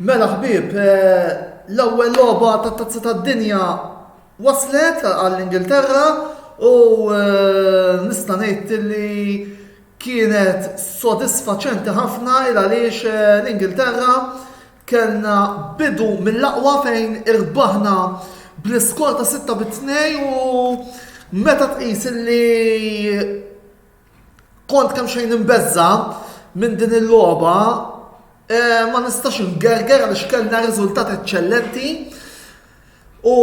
Mela ħbib, eh, l-ewwel logħba tat-tazza tad-dinja waslet għall-Ingilterra u eh, nista' ngħid li kienet sodisfaċenti ħafna il għaliex eh, l-Ingilterra Kellna bidu mill-aqwa fejn irbaħna bl-iskor ta' 6 bi 2 u meta tqis li kont kemm xejn imbezza minn din il-logħba eh, ma nistax ingerger għaliex kellna riżultat eċċellenti u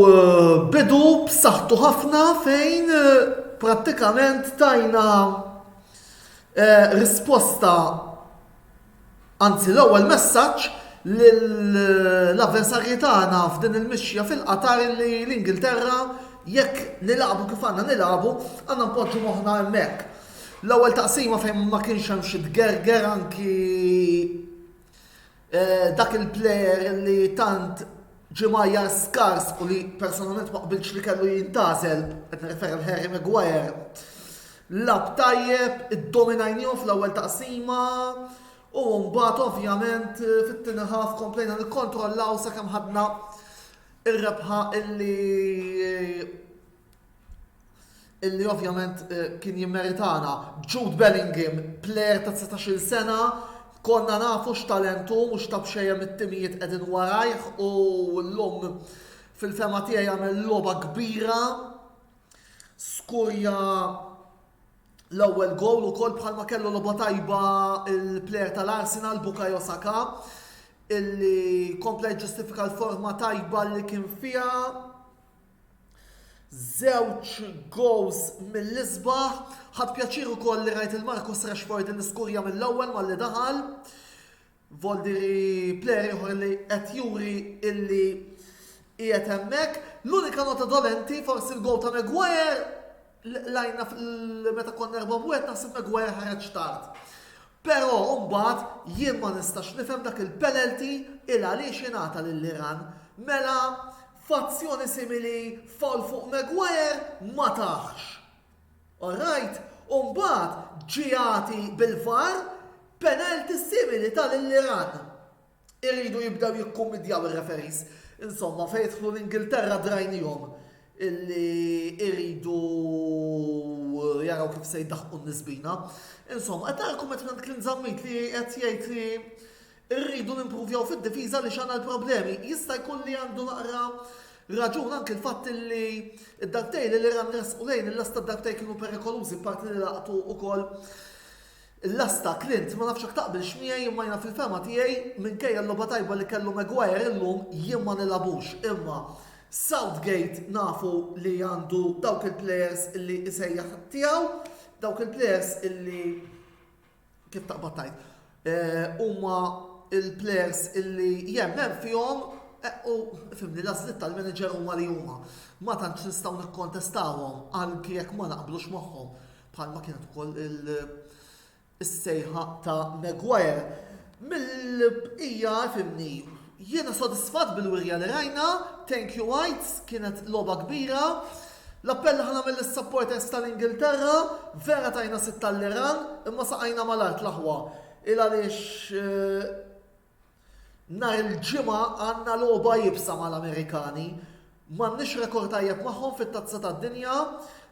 eh, bidu b'saħħtu ħafna fejn eh, prattikament tajna risposta Anzi l-ewwel messaġġ lill-avversarji tagħna f'din il-mixja fil-Qatar li l-Ingilterra jekk nilagħbu kif għandna nilagħbu għandna npoġġu moħħna hemmhekk. L-ewwel taqsima fejn ma kienx hemm xi tgerger anki eh, dak il-plejer li tant ġimajja skars u li personalment ma qbilx li kellu jintazel, qed nirreferi l Harry Maguire, Lagħab tajjeb, iddominajniehom fl-ewwel taqsima u mbagħad ovvjament fit-tieni ħaf komplejna nikkontrollaw sakemm ħadna ir-rebħa illi illi ovvjament eh, kien jimmeritana. Jude Bellingham, player ta' 19 sena, konna nafu x'talentu mhux ta' bxejjem it-timijiet qegħdin warajh u l-lum fil-fema tiegħi jagħmel logħba kbira Skurja l-ewwel gowl ukoll bħalma kellu logħba tajba il-plejer tal-Arsenal Bukayo Saka illi kompla jġustifika l-forma tajba li kien fiha. Żewġ goals mill-isbaħ, ħadd pjaċir ukoll li rajt il-Marcus Rashford li skurja mill-ewwel malli daħal. Voldi li plejer ieħor li qed juri illi qiegħed hemmhekk. L-unika nota dolenti forsi l-gowl ta' Maguire lajna meta konna erba' wieħed naħseb Maguire ħareġ tard. Però mbagħad jien ma nistax nifhem dak il-penalty il għaliex ingħata lil Iran. Mela fazzjoni simili fall fuq Maguire ma taħx. All right, u mbagħad ġie jagħti bil-VAR penalty simili ta' lil Iran. Iridu jibdew jikkummidjaw ir-referees. Insomma, fejn jidħlu l-Ingilterra drajnihom illi iridu jaraw kif se jdaħħqu n-nisbina. Insomma, qed narakom qed Clint Zammit li qed jgħid li Irridu nimpruvjaw fid-difiża li x'għandha l-problemi. Jista' jkun li għandu naqra raġun anki l-fatt li d-darbtej li l-Iran resqu lejn il-lasta d-darbtej kienu perikolużi parti li laqtu ukoll il-lasta Clint ma nafx hekk taqbilx miegħi imma jiena fil-fehma tiegħi minkejja l-logħba tajba li kellu Maguire illum jien ma nilagħbux imma Southgate nafu li għandu dawk il-plejers li jsejjaħ tiegħu dawk il-plejers li kif taqbad tajt, eh, huma il-players illi jemmen fihom eh, u fimni l-aslit tal-manager huma li huma. Ma tantx nistgħu nikkontestawhom għal jekk ma naqblux magħhom bħalma kienet ukoll il- is-sejħa ta' Maguire. Mill-bqija fhimni. Jiena sodisfatt bil-wirja li rajna, thank you Whites, kienet logħba kbira. L-appell li ħa nagħmel lis-supporters tal-Ingilterra, vera tajna sitt għall-Iran, imma saqajna mal-art l-aħwa. Il-għaliex nhar il-Ġimgħa għandna logħba iebsa mal-Amerikani. M'għandniex rekord tajjeb magħhom fit-Tazza tad-Dinja.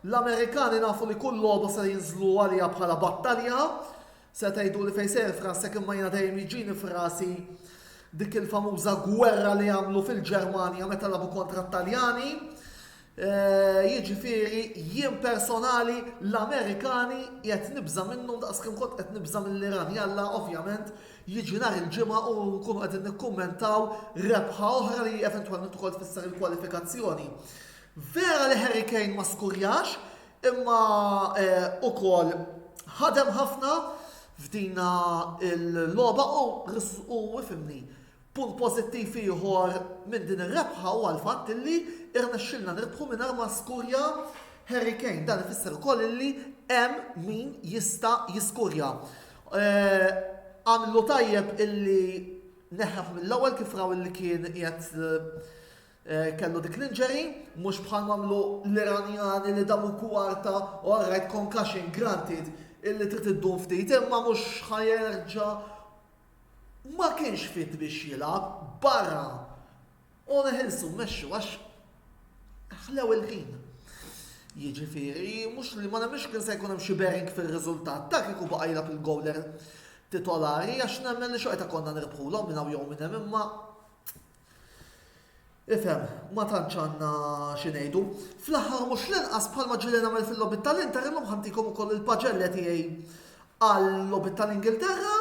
L-Amerikani nafu li kull logħba se jinżlu għaliha bħala battalja. Se tgħiduli fejn sejjer f'rasek imma jiena dejjem jiġini f'rasi dik il-famuża gwerra li għamlu fil-Ġermanja meta labu kontra t-Taljani. Eh, jiġifieri jien personali l-Amerikani qed nibża minnhom daqs kemm kont qed nibża mill-Iran. Jalla ovvjament jiġi nhar il-ġimgħa u nkunu qed nikkummentaw rebħa oħra li eventwalment ukoll tfisser il-kwalifikazzjoni. Vera li Harry Kane ma skurjax, Imma ukoll ħadem ħafna f'dina l-logħba u ifhimni, punt pożittiv ieħor minn din ir-rebħa huwa l-fatt illi irnexxielna nirbħu mingħajr ma skurja Harry Kane. Dan ifisser ukoll illi hemm min jista' jiskurja. Għamlu tajjeb illi neħħef mill-ewwel kif raw illi kien qiegħed Kellu dik l-injury, mhux bħal m'għamlu l-Iranjani li damu kwarta u alright concussion granted illi trid iddum ftit imma mhux ħa jerġa' ma kienx fit biex jilgħab barra u neħilsu mmexxu għax ħlew il-ħin. Jiġifieri mhux li ma nemmix kien se jkun hemm xi bearing fir-riżultat ta' kieku baqa' jilgħab il-gowler titolari għax nemmen li xorta konna nirbħulhom minn hawn jew minn hemm imma Ifhem, ma tantx għandna xi ngħidu. Fl-aħħar u mhux l-inqas bħalma ġieli nagħmel fil-logħbiet tal-Inter illum ħantikom ukoll il-paġelle tiegħi għall-logħbiet tal-Ingilterra.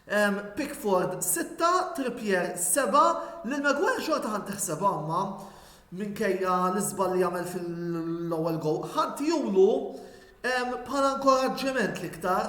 Ehm, Pickford 6, Trippier 7, lil Maguire xorta ħan tiħsebha imma minkejja l-iżbal li jagħmel fil-ewwel gow. Ħadd julu ehm, bħala inkoraġġiment l-iktar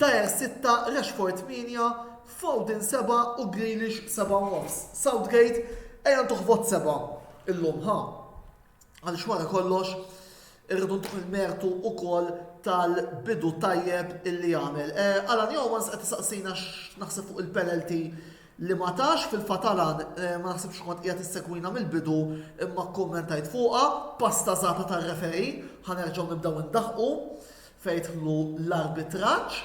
Dier sitta, Rashford tmienja, Foden seba' u Grealish seba' u nofs. Southgate, ejja ntuh vot seba' illum, ħa? Għaliex wara kollox irridu ntuh il-mertu wkoll tal-bidu tajjeb illi għamel. Eh, Alan Jowmans qed isaqsina x'naħseb fuq il-penalty li ma tax fil-fatt Alan eh, ma naħsibx kont qiegħed issegwina mill-bidu imma kkummentajt fuqha, pasta żgħata tar-referi, ħanerġgħu nibdew indaħqu. fejn dħlu l-arbitraġġ.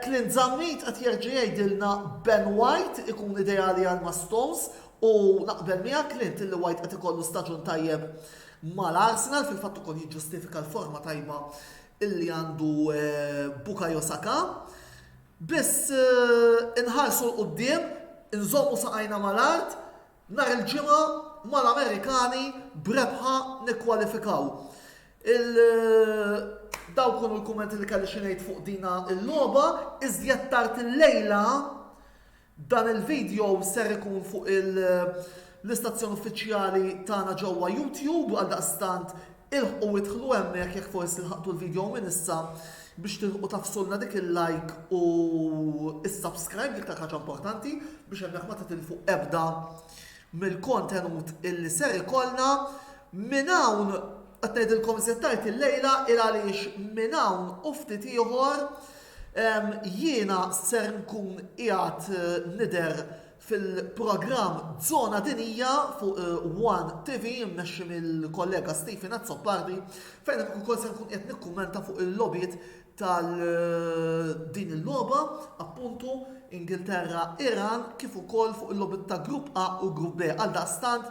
Clint Zammit qed jerġa' jgħidilna Ben White ikun ideali għal ma' Stones u naqbel miegħek Clint li White qed ikollu staġun tajjeb mal-Arsenal fil-fatt ukoll jiġġustifika l-forma tajba illi għandu eh, Bukayo Saka. Biss eh, inħarsu l-qoddim, inżommu saqajna mal-art, nar il-ġimgħa mal-Amerikani brebħa nikkwalifikaw. Il Dawk kienu l-kummenti li kelli xi ngħid fuq dina l-logħba, iżjed tard illejla dan il-video ser ikun fuq l-istazzjon uffiċjali tagħna ġewwa YouTube għal daqstant ilħqu idħlu hemmhekk jekk forsi lħaqtu l-video minn issa biex tilħqu tafsulna dik il-like u is-subscribe l-iktar ħaġa importanti biex hemmhekk ma titilfu ebda mill-kontenut illi ser ikollna minn hawn qed ngħidilkom iżjed tard illejla il għaliex minn hawn u ftit ieħor jiena ser nkun qiegħed nidher fil-programm Żona Dinjija fuq One TV mmexxi mill-kollega Stephen Azzopardi fejn ukoll se nkun qed nikkummenta fuq il-logħbiet tal din il-logħba, appuntu, Ingilterra, Iran, kif ukoll fuq il-logħbiet ta' Grupp A u Grupp B. Għaldaqstant,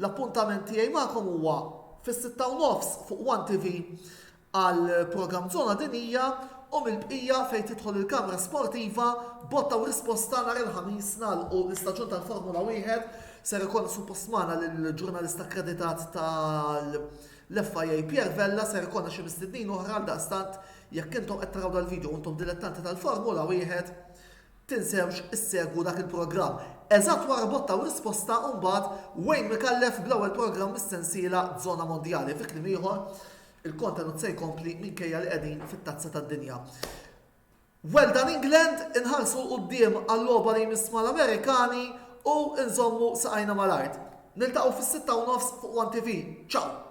l-appuntament tiegħi magħkom huwa fis-sitta u nofs fuq One TV għal programm Zona Dinija u mill-bqija fejn tidħol il-kamra sportiva botta u risposta nhar il-Ħamis nagħlqu l-istaġun tal-Formula Wieħed ser ikollna suppost magħna lill-ġurnalist akkreditat tal- L-FIA Pierre Vella ser ikollha xi mistednin oħra għaldaqstant jekk intom qed taraw dal-video u intom dilettanti tal-Formula Wieħed, tinsewx issegwu dak il-programm. Eżatt wara botta u risposta mbagħad Wayne Micallef bl-ewwel programm mis-sensiela Zona Mondjali. Fi kliem ieħor, il-kontenut se jkompli minkejja li qegħdin fit-Tazza tad-Dinja. Well done England, inħarsu 'l quddiem għal-logħba li jmiss mal-Amerikani u nżommu saqajna mal-art. Niltaqgħu fis-sitta u nofs fuq one TV. Ciao!